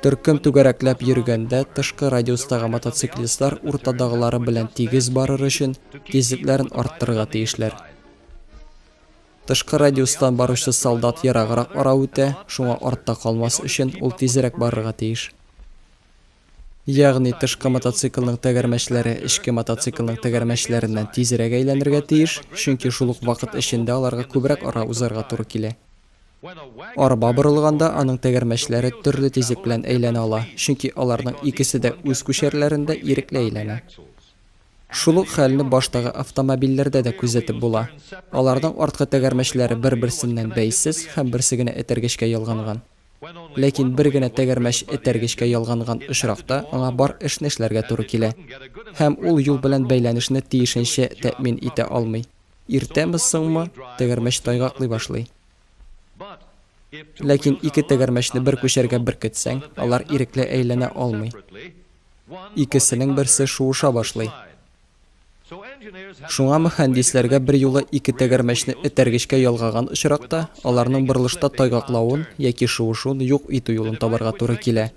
Төркем түгәрәкләп йөргәндә, тышкы радиустагы мотоциклистлар уртадагылары белән тигез барыр өчен, тизлекләрен арттырырга тиешләр. Тышкы радиустан баручы солдат ераграк ара үтә, шуңа артта калмас өчен, ул тизрәк барырга тиеш. Ягъни, тышкы мотоциклның тәгәрмәчләре эчке мотоциклның тәгәрмәчләреннән тизрәк әйләнергә тиеш, чөнки шул ук вакыт эчендә аларга күбрәк ара узарга туры килә. Арба борылганда аның тәгәрмәчләре төрле тизлек белән әйләнә ала, чөнки аларның икесе дә үз күчәрләрендә ирекле әйләнә. Шул ук хәлне баштагы автомобильләрдә дә күзәтеп була, аларның арткы тәгәрмәчләре бер-берсеннән бәйсез һәм берсе генә этәргечкә ялганган. Ләкин бер генә тәгәрмәч этәргечкә ялганган очракта аңа бар эшне эшләргә туры килә, һәм ул юл белән бәйләнешне тиешенчә тәэмин итә алмый. Иртәме-соңмы, тәгәрмәч тайгаклый башлый. Ләкин ике тәгәрмәчне бер күчәргә беркетсәң, алар ирекле әйләнә алмый. Икесенең берсе шуыша башлый. Шуңа мөхәндисләргә берьюлы ике тәгәрмәчне этәргечкә ялгаган очракта, аларның борылышта тайгаклавын яки шуышуын юк итү юлын табарга туры килә.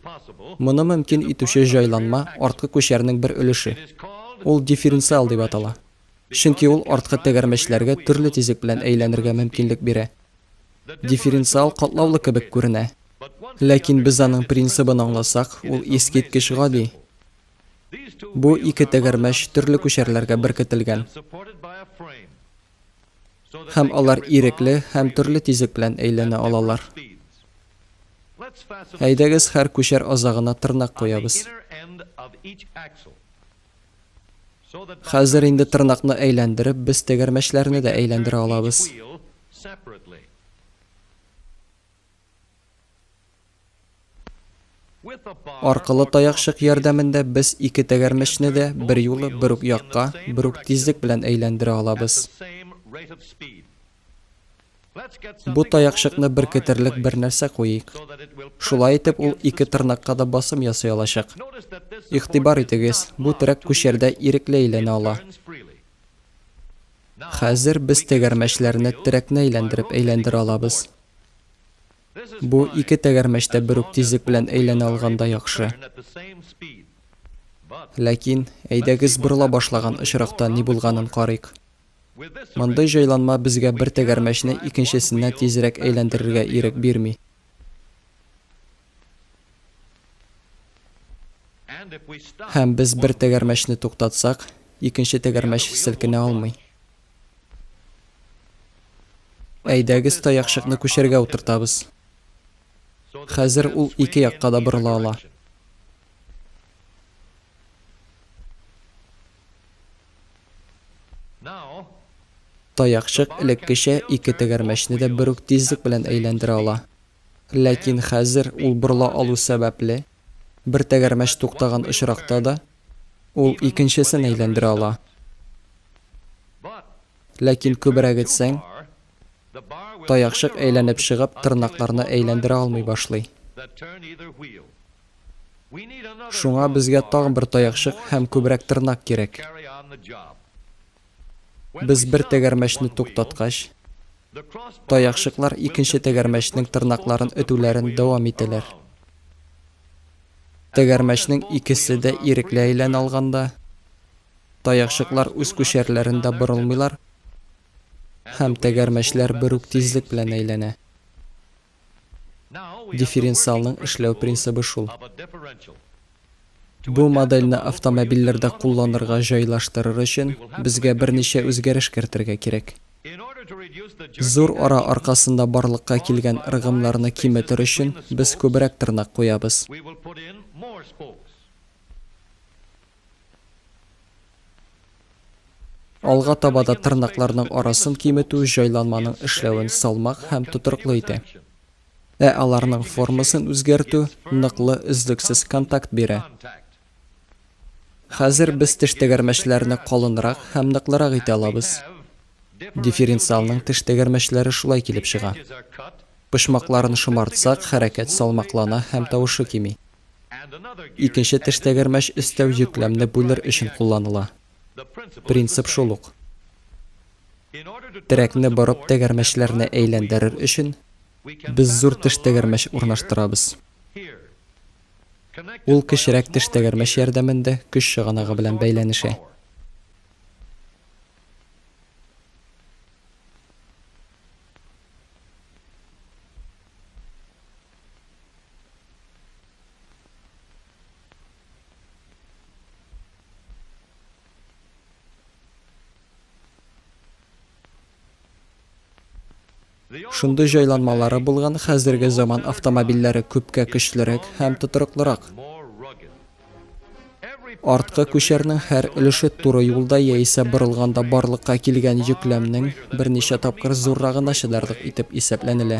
Моны мөмкин итүче җайланма, арткы күчәрнең бер өлеше. Ул дифференциал дип атала. чөнки ул арткы тәгәрмәчләргә төрле тизлек белән әйләнергә мөмкинлек бирә. Дифференциал катлаулы кебек күренә. Ләкин без аның принцибын аңласак, ул искиткеч гади. Бу ике тәгәрмәч төрле күчәрләргә беркетелгән. Һәм алар ирекле һәм төрле тизлек белән әйләнә алалар. Әйдәгез һәр күчәр азагына тырнак куябыз. Хәзер инде тырнакны әйләндереп, без тәгәрмәчләрне дә әйләндерә алабыз. Аркылы таякчык ярдәмендә без ике тәгәрмәчне дә берьюлы бер үк якка, бер үк тизлек белән әйләндерә алабыз. Бу таякчыкны беркетерлек бер нәрсә куйыйк. Шулай итеп ул ике тырнакка да басым ясый алачак. Игътибар итегез, бу терәк күчәрдә ирекле әйләнә ала. Хәзер без тәгәрмәчләрне терәкне әйләндереп әйләндерә алабыз. Бу ике тәгәрмәч тә бер үк тизлек белән әйләнә алганда яхшы. Ләкин, әйдәгез борыла башлаган очракта ни булганын карыйк. Мондый җайланма безгә бер тәгәрмәчне икенчесенә тизрәк әйләндерергә ирек бирми. Һәм без бер тәгәрмәчне туктатсак, икенче тәгәрмәч селкенә алмый. Әйдәгез таякчыкны күчәргә утыртабыз. Хәзер ул ике якка да борыла ала. Таякчык элеккечә ике тәгәрмәчне дә бер үк тизлек белән әйләндерә ала. Ләкин хәзер ул борыла алу сәбәпле, бер тәгәрмәч туктаган очракта да, ул икенчесен әйләндерә ала. Ләкин күбрәк этсәң, таякчык әйләнеп чыгып, тырнакларны әйләндерә алмый башлый. Шуңа безгә тагын бер таякчык һәм күбрәк тырнак кирәк. Без бер тәгәрмәчне туктаткач, таякчыклар икенче тәгәрмәчнең тырнакларын өтүләрен дәвам итәләр. Тәгәрмәчнең икесе дә ирекле әйләнә алганда, таякчыклар үз күчәрләрендә борылмыйлар һәм тәгәрмәчләр бер үк тизлек белән әйләнә. Дифференциалның эшләү принцибы шул. Бу модельне автомобильләрдә кулланырга җайлаштырыр өчен безгә берничә үзгәреш кертергә кирәк. Зур ара аркасында барлыкка килгән ыргымнарны киметер өчен без күбрәк тырнак куябыз. Алга таба да тырнакларның арасын киметү җайланманың эшләвен салмак һәм тотрыклы итә. Ә аларның формасын үзгәртү ныклы, өзлексез контакт бирә. Хәзер без теш тәгәрмәчләрне калынрак һәм ныклырак итә алабыз. Дифференциалның теш тәгәрмәчләре шулай килеп чыга. Почмакларын шомартсак, хәрәкәт салмаклана һәм тавышы кими. Икенче тештәгәрмәч өстәү йөкләмне бүлер өчен кулланыла. Принцип шул ук. Терәкне борып тәгәрмәчләрне әйләндерер өчен, без зур тештәгәрмәч урнаштырабыз. Ул кечерәк тештәгәрмәч ярдәмендә көч чыганагы белән бәйләнешә. Шундый җайланмалары булган хәзерге заман автомобильләре күпкә көчлерәк һәм тотрыклырак. Арткы күчәрнең һәр өлеше туры юлда яисә борылганда барлыкка килгән йөкләмнең берничә тапкыр зуррагына чыдарлык итеп исәпләнелә.